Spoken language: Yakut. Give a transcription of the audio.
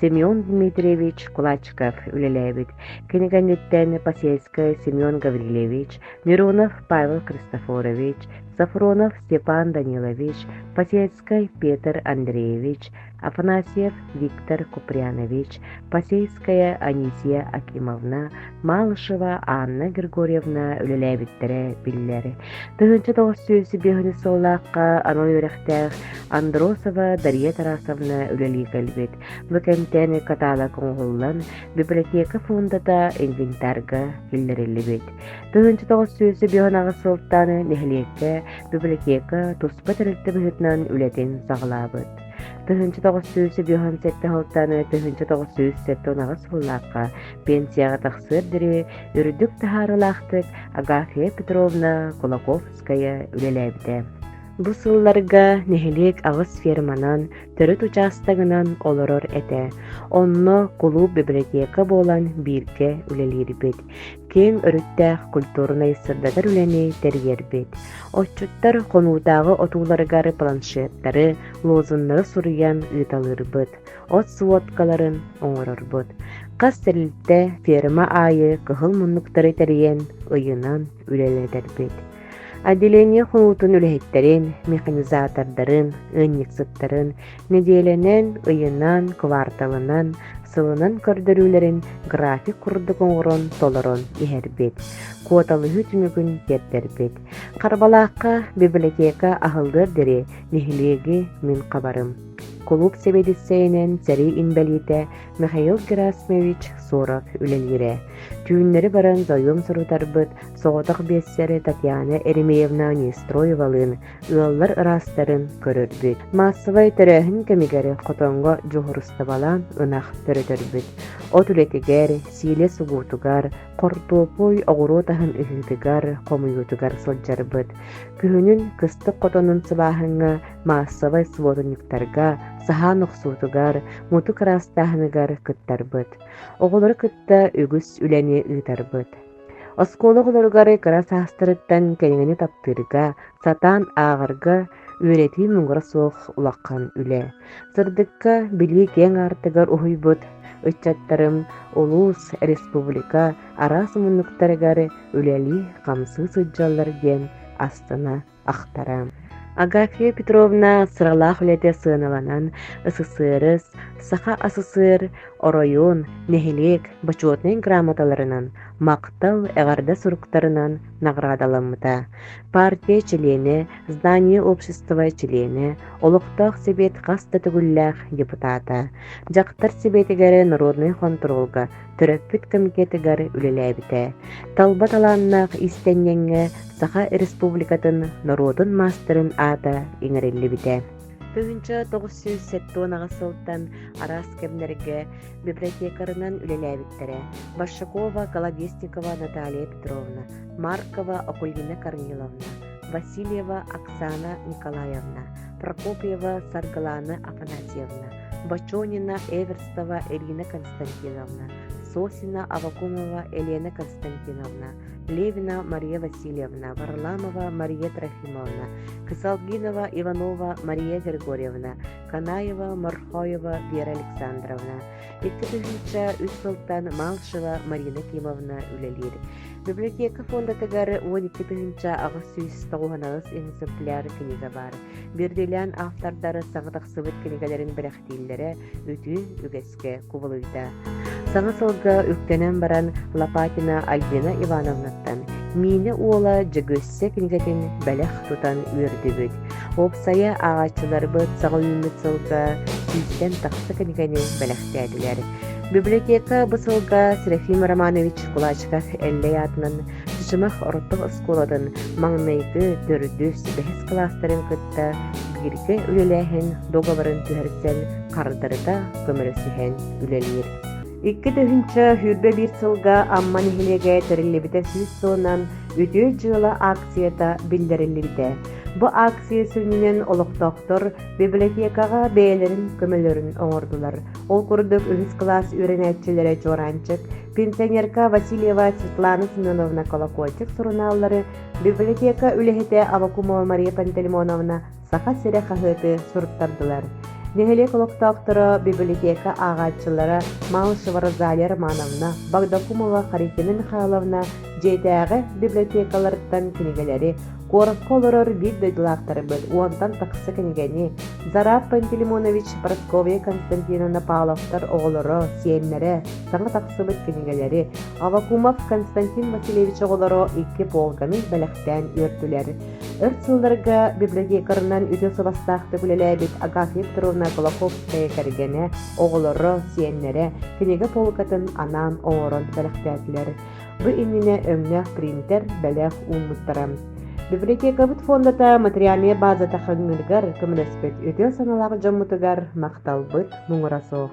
Семен Дмитриевич Кулачков үлэлээбит, кинигэниттэн Посельскай Семен Гаврильевич, Нерунов Павел Христофорович, Сафронов Степан Данилович, Посельскай Петр Андреевич, Афанасьев Виктор Купрянович, Посельская Анисия Акимовна, Малышева Анна Григорьевна үлэлээбиттэрэ биллэр. Тыһыынча тоҕус сүүс биэһинис сыллаахха анал үөрэхтээх Андросова Дария Тарасовна үлэлии кэлбит. Бу кэмтэн каталог оҥоһуллан, библиотека фондата инвентарга киллэриллибит. Тыһыынча тоҕус сүүс биэһин аҕыс сылтан нэһилиэккэ библиотека туспа тэрилтэ быһыытынан үлэтин саҕалаабыт. Тыһыынча тоҕус сүүс үбүһүн сэттэ сылтааны тыһыынча тоҕус сүүс сэттэ унаҕас сыллаахха пенсияҕа тахсыар диэри үрдүк таһаарыылаахтык Агафья Петровна Кулаковская үлэлээбитэ. Бу сылларга нэһилиэк аҕыс ферманан, төрүт учаастагынан олорор этэ. Онно кулууп библиотека буолан бииргэ үлэлиирбит. киэҥ өрүттээх культурнай сырдатар үлэни тэрийэрбит. Отчуттар хонуутааҕы отууларыгар планшеттары, лозуннары суруйан ыыталыырбыт, от сводкаларын оҥорорбут. Хас тэрилтэ ферма аайы кыһыл муннуктары тэрийэн, ыйынан үлэлэтэрбит. Отделение хонуутун үлэһиттэрин, механизатордарын, ыанньыксыттарын нэдиэлэнэн, ыйынан, кварталынан, сылынан көрдөрүүлэрин график курдук оҥорон толорон иһэрбит, куоталыһыы түмүгүн тиэрдэрбит. Харбалаахха библиотека аһыллыар дири нэһилиэги мин хабарым. Кулууп сэбиэдиссэйинэн сэрии инбэлиитэ Михаил Герасимович Соров үлэлиирэ. Түүннэри баран зоюм сурутарбыт соҕотох биэссэри Татьяна Еремеевна Нестроевалыын ыаллар ыраастарын көрөрбүт. Маассабай төрөөһүн кэмигэр хотоҥго дьуһурустабалаан ынах төрөтөрбүт. От үлэтигэр, сиилэ сугуутугар, хортуопуй оҕуруот аһын ыһыытыгар, хомуйуутугар сылдьарбыт. Күһүнүн кыстык хотонун сыбааһыҥҥа, маассабай субуотунньуктарга, саһаан охсуутугар, мутук ыраастааһыныгар кыттарбыт. Оҕолору кытта үгүс үлэни ыытарбыт. Оскуола-оҕолоругар кыра саастарыттан кэриҥэни таптыырга, сатаан ааҕарга, үөрэтии муҥура суох улахан үлэ. Сырдыкка билии киэҥ аартыгар уһуйбут ыччаттарым улуус, республика араас муннуктарыгар үлэлии-хамсыы сылдьаллар диэн астына ахтара. Агафья Петровна сыралаах үлэтэ сыаналанан СССР, Саха СССР, оройуон, нэһилиэк бочуотунай грамоталарынан, махтал эҕэрдэ суруктарынан наҕараадаламмыта. Партия чилиэнэ, здание общества чилиэнэ, олохтоох сэбиэт хас да төгүллээх депутата, дьахтар сэбиэтигэр народнай хонтуруолга төрөппүт комитетыгар үлэлээбитэ. Талба талааннаах иистэнньэҥҥэ Саха Республикатын норуотун маастарын аата иҥэриллибитэ. Тыһыынча тоҕус сүүс сэттион аҕыс сылтан араас кэмнэргэ библиотекарынан үлэлээбиттэрэ Башакова Кологистникова Наталья Петровна, Маркова Окульгина Корниловна, Васильева Оксана Николаевна, Прокопьева Саргылана Афанасьевна, Бочонина, Эверстова Ирина Константиновна, Сосина, Авакумова Елена Константиновна, Левина Мария Васильевна, Варламова Мария Трофимовна, Кысалгинова Иванова Мария Григорьевна, Канаева Морхоева Вера Александровна, икки тыһыынча үс сылтан Малшева Марина Кимовна үлэлиир. Библиотека фондатыгар уон икки тыһыынча аҕыс сүүс тоҕуһан экземпляр книга бар. Биирдиилээн автордары саҥа тахсыбыт кинигэлэрин бэлэхтииллэрэ үтүө үгэскэ кубулуйда. Саҥа сылга үктэнэн баран Лопатина Альбина Ивановнаттан Миинэ уола Дьөгүөссэ кинигэтин бэлэх тутан үөрдүбүт. Уопсайа ааҕааччыларбыт саҕа үүммүт сылга сүүстэн тахса кинигэни бэлэхтээтилэр. Библиотека бу сылга Серафим Романович Кулачиков Эллэй аатынан Сымах орто оскуолатын маҥнайгы, төрдүс, бэһис кылаастарын кытта бииргэ үлэлээһин договорын түһэрсэн хардарыта көмөлөсүһэн үлэлиир. Икки тыһыынча сүүрбэ биир сылга Амма нэһилиэгэ тэриллибитэ сүүс сылынан Үтүө дьыала акцията биллэриллибитэ. Бу акция сүнньүнэн олохтоохтор библиотекаҕа бэйэлэрин көмөлөрүн оҥордулар. Ол курдук үһүс кылаас үөрэнээччилэрэ Чуораанчык пенсионерка Васильева Светлана Семеновна Колокольчик сурунааллары, библиотека үлэһитэ Авакумова Мария Пантелеймоновна Саха сирэ хаһыаты суруттардылар. Нэһилиэк олохтоохторо, библиотека ааҕааччылара Малышева Розалия Романовна, Багдакумова Харитина Михайловна дьиэтээҕи библиотекаларыттан кинигэлэри, Куоракка олорор биир дойдулаахтарбыт уонтан тахса кинигэни Зарад Пантелеймонович Прасковья Константиновна Павловтар оҕолоро, сиэннэрэ саҥа тахсыбыт кинигэлэри, Авакумов Константин Васильевич оҕолоро икки полканы бэлэхтээн үөртүлэр. Өр сылларга библиотекарынан үтүө сыластаахтык үлэлээбит Агафья Петровна Голоховская кэргэнэ, оҕолоро, сиэннэрэ кинигэ полкатын анаан оҥорон бэлэхтээтилэр. Бу иннинэ өҥнөөх принтер бэлэх ууммуттара. Библиотекабыт фондата материальнай базата хаҥныыргар көмөлөспүт үтүө санаалаах дьоммутугар махталбыт муҥура суох.